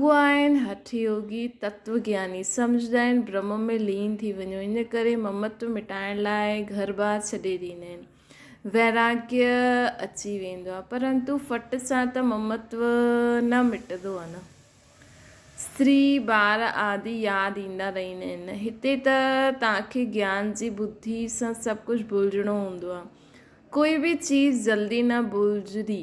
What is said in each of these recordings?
هو آهن هٺ يوگي، تتو گياني، سمجهندا آهن برهم ۾ لين ٿي وڃو، ان ڪري ممتو مٽائڻ لاء گهر ٻار ڇڏي ڏيندا آهن. ويراگيه اچي ويندو آهي، پرنتو ڦٽ سان ته ممتو نه مٽندو آهي نه. استري، ٻار آدي ياد ايندا رهيندا آهن. هتي ته توهان کي گيان جي ٻڌي سان سڀ ڪجهه ڀلجڻو هوندو آهي. ڪوئي به چيز جلدي نه ڀلجندي.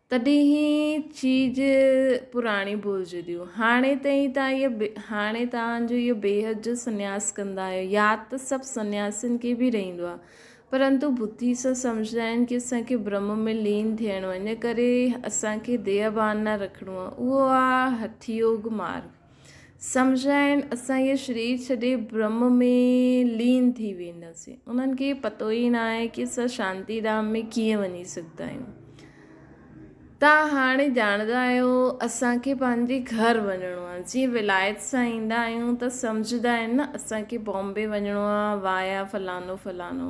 تڏهن هي چيج پراڻيون ڀلجنديون. هاڻي تائين تان اهي هاڻي تان جو اهي بيهد جو سنياس ڪندا آهيو. ياد ته سڀ سنياسين کي به رهندو آهي. پرنتو بڌي سان سمجهندا آهن ڪي اسان کي برهم ۾ لين ٿيڻو آهي. ان ڪري اسان کي ديهه ڀان نه رکڻو آهي. اهو آهي هٺيوگ مارگ. سمجهائين، اسان هيء شرير ڇڏي برهمه ۾ لين ٿي وينداسين. انهن کي پتو ئي ناهي ته اسان شانتي ڌام ۾ ڪيئن وڃي سگهندا آهيون. توهان هاڻي ڄاڻندا آهيو اسان کي پنهنجي گهر وڃڻو آهي. جيئن ولايت سان ايندا آهيون ته سمجهندا آهن نه اسان کي بامبي وڃڻو آهي وايا فلانو فلانو.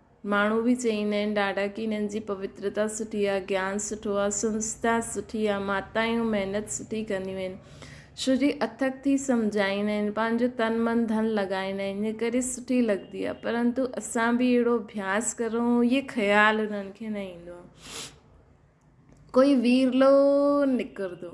ماڻهو به چئيندا آهن ڏاڍا ڪي هنن جي پوترتا سٺي آهي گيان سٺو آهي سنسٿا سٺي آهي ماتايون محنت سٺي ڪنديون آهن شو جي اٿڪ ٿي سمجهائيندا آهن پنهنجو تن من ڌن لڳائيندا آهن ان ڪري سٺي لڳندي آهي پرنتو اسان به اهڙو اڀياس ڪرون اهي خيال هنن کي نه ايندو آهي ڪوئي ويرلو نڪردو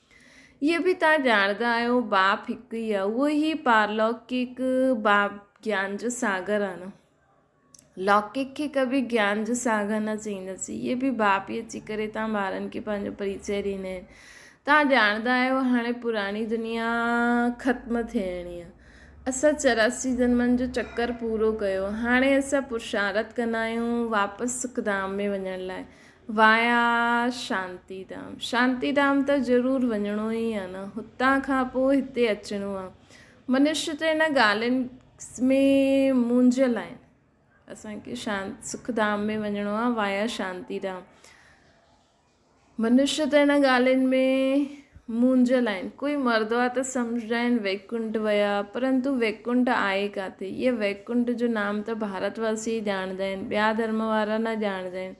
اهو به توهان ڄاڻندا آهيو باپ هڪ ئي آهي اهو هي پارلوڪڪ باپ گيان جو ساگر آهي نه لوڪڪ کي ڪبي گيان جو ساگر نه چئيندسي اهي به باپ ئي اچي ڪري توهان ٻارن کي پنهنجو پريچي ڏيندا آهن توهان ڄاڻندا آهيو هاڻي پراڻي دنيا ختم ٿيڻي آهي اسان چوراسی جنمن جو چڪر پورو ڪيو هاڻي اسان پرشارت ڪندا آهيون واپس سکڌام ۾ وڃڻ لاء وايا شانتي ڌام شانتي ڌام ته ضرور وڃڻو ئي آ نه هتان کان پوء هتي اچڻو آ منش ته ان ڳالهين ۾ مونجهيل آهن اسان کي شان سک ڌام ۾ وڃڻو آ وايا شانتي ڌام منش ته ان ڳالهين ۾ مونجهيل آهن ڪوئي مرد آ ته سمجهندا آهن ويڪنٽ ويا پرنتو ويڪنٽ آهي ڪاٿي هي ويڪنٽ جو نام ته ڀارت واسي ڄاڻندا آهن ٻيا ڌرم وارا نه ڄاڻندا آهن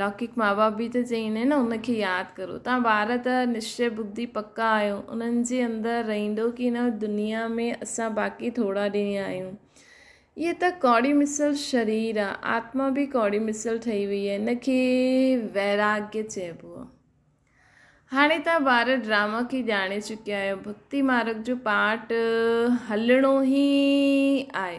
لوڪيڪ ماء باپ به ته چئي نه ان کي ياد ڪرو تان ٻار ته نشچي ٻڌي پڪا آهيو انهن جي اندر رهيندو ڪي نه دنيا ۾ اسان باقي ٿورا ڏينهن آهيون هيء ته ڪوڙي مثل شرير آ آتما به ڪوڙي مثل ٺهي وئي آهي ان کي ويراڳي چئبو آ هاڻي تان ٻار ڊراما کي ڄاڻي چڪيا آهيو ڀڪتي مارگ جو پاٽ هلڻو هي آهي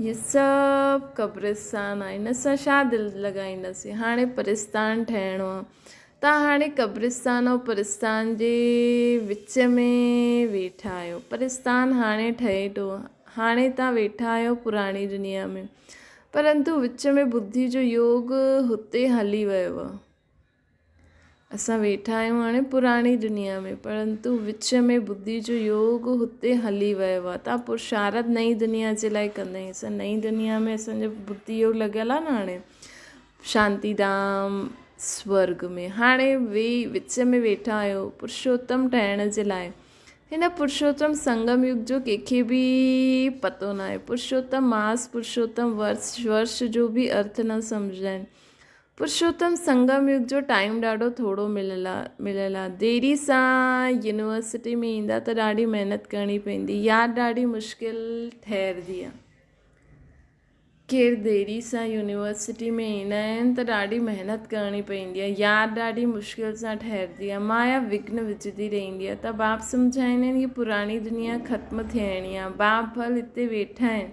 اهي سڀ قبرستان آهن اسان ڇا دل لڳائينداسين هاڻي پرستان ٺهڻو آ تان هاڻي قبرستان ۽ پرستان جي وچ ۾ ويٺا آهيو پرستان هاڻي ٺهي ٿو هاڻي تان ويٺا آهيو پراڻي دنيا ۾ پرنتو وچ ۾ ٻڌي جو يوگ هتي هلي ويو آ اسان ويٺا آهيون هاڻي پراڻي دنيا ۾، پرنتو وچ ۾ ٻڌي جو يوگ هتي هلي ويو آهي. تان پرشارت نئين دنيا جي لاء ڪندائين. اسان نئين دنيا ۾ اسان جو ٻڌي يوگ لڳل آهي نه هاڻي شانتي ڌام سورڳ ۾. هاڻي ويهي وچ ۾ ويٺا آهيون پرشوتم ٺهڻ جي لاء. هن پرشوتم سنگم يگ جو ڪنهن کي به پتو ناهي. پرشوتم ماس، پرشوتم ورس، ورش جو به ارٿ نه سمجهندا آهن. پرشوتم سنگم يگ جو ٽائيم ڏاڍو ٿورو مليل مليل آ ديري سان يونيورسٽي ۾ ايندا ته ڏاڍي محنت ڪرڻي پوندي ياد ڏاڍي مشڪل ٺهردي آ ڪير ديري سان يونيورسٽي ۾ ايندا آهن ته ڏاڍي محنت ڪرڻي پوندي آ ياد ڏاڍي مشڪل سان ٺهردي آ مايا وگهن وجهندي رهندي آ ته باب سمجهائيندا آهن هي پراڻي دنيا ختم ٿيڻي آ باب ڀل هتي ويٺا آهن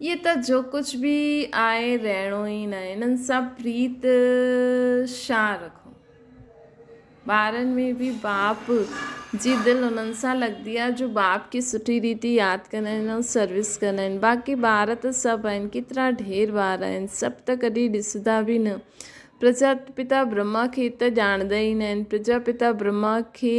اهي ته جو ڪجهه به آهي رهڻو ئي ناهي انهن سان پريت شان رکو ٻارن ۾ به باپ جي دل انهن سان لڳندي آهي جو باپ کي سٺي ريتي ياد ڪندا آهن ۽ سروس ڪندا آهن باقي ٻار ته سڀ آهن ڪيترا ڍير ٻار آهن سڀ ته ڪڏهن ڏسندا به نه پرجا پتا برهما کي ته ڄاڻندا ئي ناهن پرجا پتا برهما کي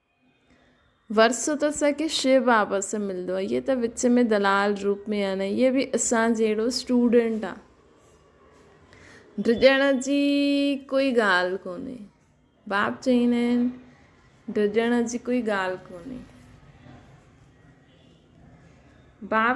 ورثو ته اسان کي شيء بابت سان ملندو آهي هيء ته وچ ۾ دلال روپ ۾ آهن ۽ هيء به اسان جهڙو اسٽوڊنٽ آهي. ڊڄڻ جي ڪوئي ڳالهه ڪونهي. باب چئين آهن ڊڄڻ جي ڪوئي ڳالهه ڪونهي. باب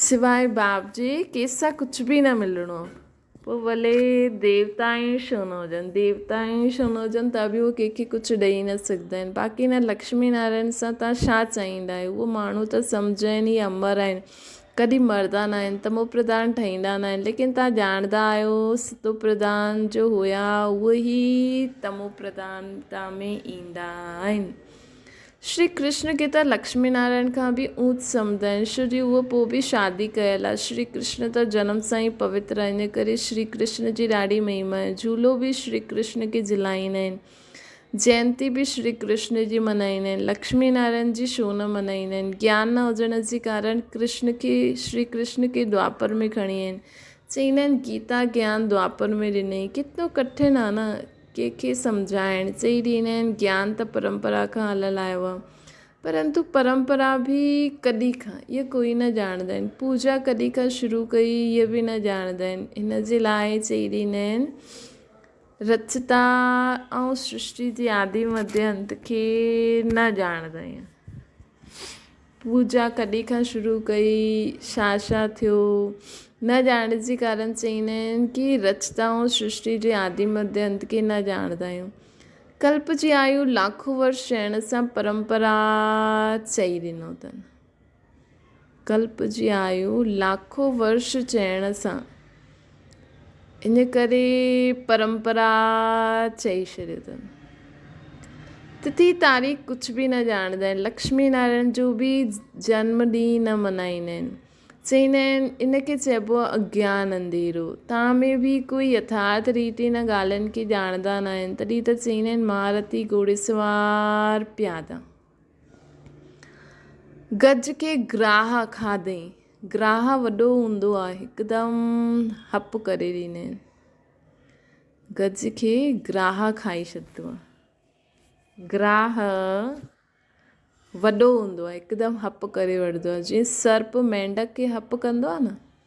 سواء باب جي ڪيسان ڪجهه به نه ملڻو پوء ڀلي ديوتا ئي ڇو نه هجن ديوتا ئي ڇو نه هجن ته به هو ڪنهنکي ڪجهه ڏئي نه سگهندا آهن باقي هن لڪشمي نارائڻ سان تان ڇا چاهيندا آهيو هو ماڻهو ته سمجهه آهن هي امر آهن ڪڏهن مردا نه آهن ته مو پرڌان ٺهيندا نه آهن ليڪن تان ڄاڻندا آهيو ستو پرڌان جو هيا اهي ئي تمو پرڌان تان ۾ ايندا آهن شري ڪرشن کي ته لڪشمي نارائڻ کان به اونچ سمجهدائين شو جي هو پوء به شادي ڪيل آهي. شري ڪرشن ته جنم سان ئي پوتر آهي ان ڪري شري ڪرشن جي ڏاڍي مهما آهي. جهولو به شري ڪرشن کي جهلائيندا آهن. جينتي به شري ڪرشن جي منائيندا آهن. لڪشمي نارائڻ جي شو نه منائيندا آهن. گيان نه هجڻ جي ڪارڻ ڪرشن کي شري ڪرشن کي دوآپر ۾ کڻي آيا آهن. چئيندا آهن گيتا گيان دوآپر ۾ ڏنئي. ڪتنو ڪٺن آهي نه. ڪنهن کي سمجهائڻ، چئي ڏيندا آهن گيان ته پرمپرا کان هليل آيو آهي. پرنتو پرمپرا به ڪڏهن کان، اهي ڪوئي نه ڄاڻندا آهن. پوڄا ڪڏهن کان شروع ڪئي، اهي به نه ڄاڻندا آهن. ان جي لاء چئي ڏيندا آهن، رچتا ۽ سرشٽي جي آدي مڌ انت کي نه ڄاڻندا آهيون. پوڄا ڪڏهن کان شروع ڪئي، ڇا ڇا ٿيو، نه ڄاڻڻ جي ڪارڻ چئي نه آهن ڪي رچتائون سرشٽي جي آدي مڌ انت کي نه ڄاڻندا آهيون. ڪلپ جي آيو لاکون ورس چئڻ سان پرمپرا چئي ڏنو اٿن. ڪلپجي آيو لاکو ورش چئڻ سان ان ڪري پرمپرا چئي ڇڏيو تن. تتي تاريخ ڪجهه به نه ڄاڻندا آهن. لڪشمي نارائڻ جو به جنم ڏينهن نه ملهائيندا آهن. چئيندا آهن ان کي چئبو آهي اگيان انڌيرو. تان ۾ به ڪوئي يٿارٿ ريت ان ڳالهين کي ڄاڻندا نه آهن. تڏهن ته چئيندا آهن مهارتي گهوڙيسوار پيادا. گج کي گراهه کاڌئين. گراهه وڏو هوندو آهي هڪدم هپ ڪري ڏيندي آهن. گج کي گراهه کائي ڇڏيندو آهي. گراهه وڏو هوندو آهي هڪدم هپ ڪري وٺندو آهي جيئن سرپ مينڍڪ کي هپ ڪندو آهي نه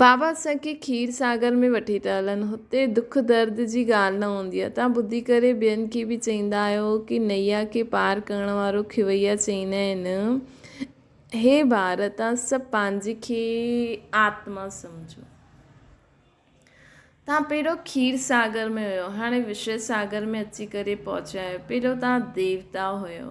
بابا اسان کي کير ساگر ۾ وٺي ته هلن، هتي دک درد جي ڳالهه نه هوندي آهي. توهان ٻڌي ڪري ٻين کي به چئيندا آهيو ڪي نئيا کي پار ڪرڻ وارو کيوئيا چئيندا آهن. هي ٻار توهان سڀ پنهنجي کي آتما سمجهو. توهان پهريون کير ساگر ۾ هيو هاڻي وشي ساگر ۾ اچي ڪري پهچيا آهيو. پهريون توهان ديوتا هيو.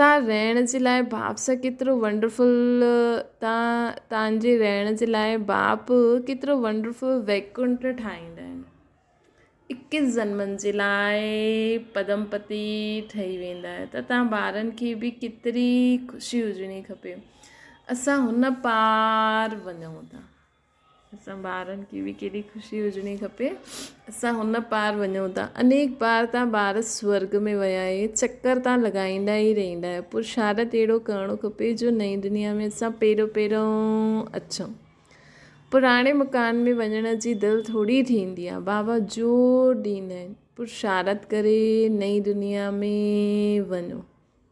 تان رهڻ جي لاء باپ سان ڪيترو ونڊرفل تان تان جي رهڻ جي لاء باپ ڪيترو ونڊرفل ويڪنٽ ٺاهيندا آهن اڪيس جنمن جي لاء پدم پتي ٺهي ويندا آهي ته تان ٻارن کي به ڪيتري خوشي هجڻي کپي اسان هن پار وڃون ٿا اسان ٻارن کي به ڪيڏي خوشي هجڻي کپي اسان هن پار وڃون ٿا انيڪ بار تان ٻار سورڳ ۾ ويا اهي چڪر تان لڳائيندا ئي رهندا آهيو پرشارت اهڙو ڪرڻو کپي جو نئين دنيا ۾ اسان پهريون پهريون اچون پراڻي مڪان ۾ وڃڻ جي دل ٿوري ٿيندي آهي بابا زور ڏيندا آهن پرشارت ڪري نئين دنيا ۾ وڃو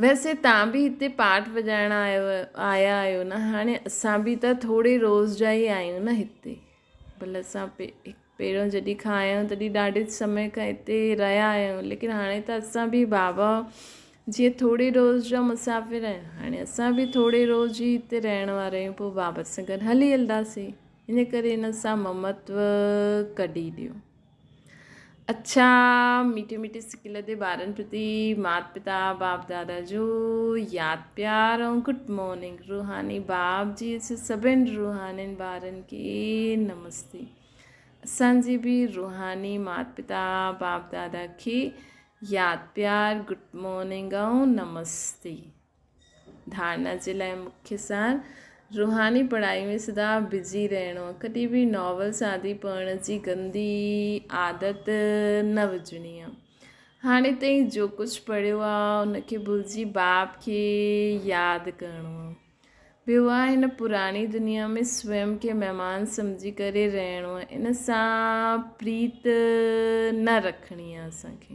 ويسي تان به هتي پاٽ وڄائڻ آيا آهيو نه هاڻي اسان به ته ٿوري روز جا ئي آهيون نه هتي ڀل اسان پهريون جڏهن کان آيا آهيون تڏهن ڏاڍي سمي کان هتي رهيا آهيون ليڪن هاڻي ته اسان به بابا جي ٿوري روز جا مسافر آهيون هاڻي اسان به ٿوري روز جي هتي رهڻ وارا آهيون پوء بابا سان گڏ هلي هلنداسي ان ڪري هن سان ممتو ڪڍي ڏيو اڇا ميٺي ميٺي سڪل تي ٻارن پرتي مات پتا باپ دادا جو ياد پيار ۽ گڊ مارننگ روحاني باب جي اسي سڀن روحانين ٻارن کي نمستي اسان جي به روحاني مات پتا باپ دادا کي ياد پيار گڊ مارننگ ۽ نمستي ڌارنا جي لاء مکيه سار، روحاني پڙهائي ۾ سدا بزي رهڻو، ڪڏهن به ناول ساندي پڙهڻ جي گندي عادت نه وجهڻي آ، هاڻي تائين جو ڪجهه پڙهيو آ ان کي ڀلجي باب کي ياد ڪرڻو آ، ٻيو آ هن پراڻي دنيا ۾ سويم کي مهمان سمجهي ڪري رهڻو آ، ان سان پريت نه رکڻي آ اسان کي.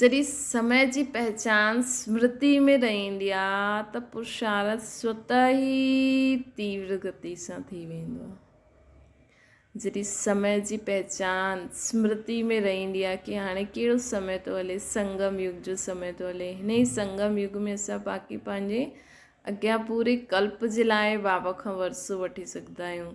جڏهن سمي جي پهچان اسمرتي ۾ رهندي آ ته پرشارت سوت ئي تيور گتي سان ٿي ويندو آ. جڏهن سمي جي پهچان اسمرتي ۾ رهندي آ ڪي هاڻي ڪهڙو سمي ٿو هلي سنگم يگ جو سمي ٿو هلي هن ئي سنگم يگ ۾ اسان باقي پنهنجي اڳيان پوري ڪلپ جي لاء بابا کان ورسو وٺي سگهدا آهيون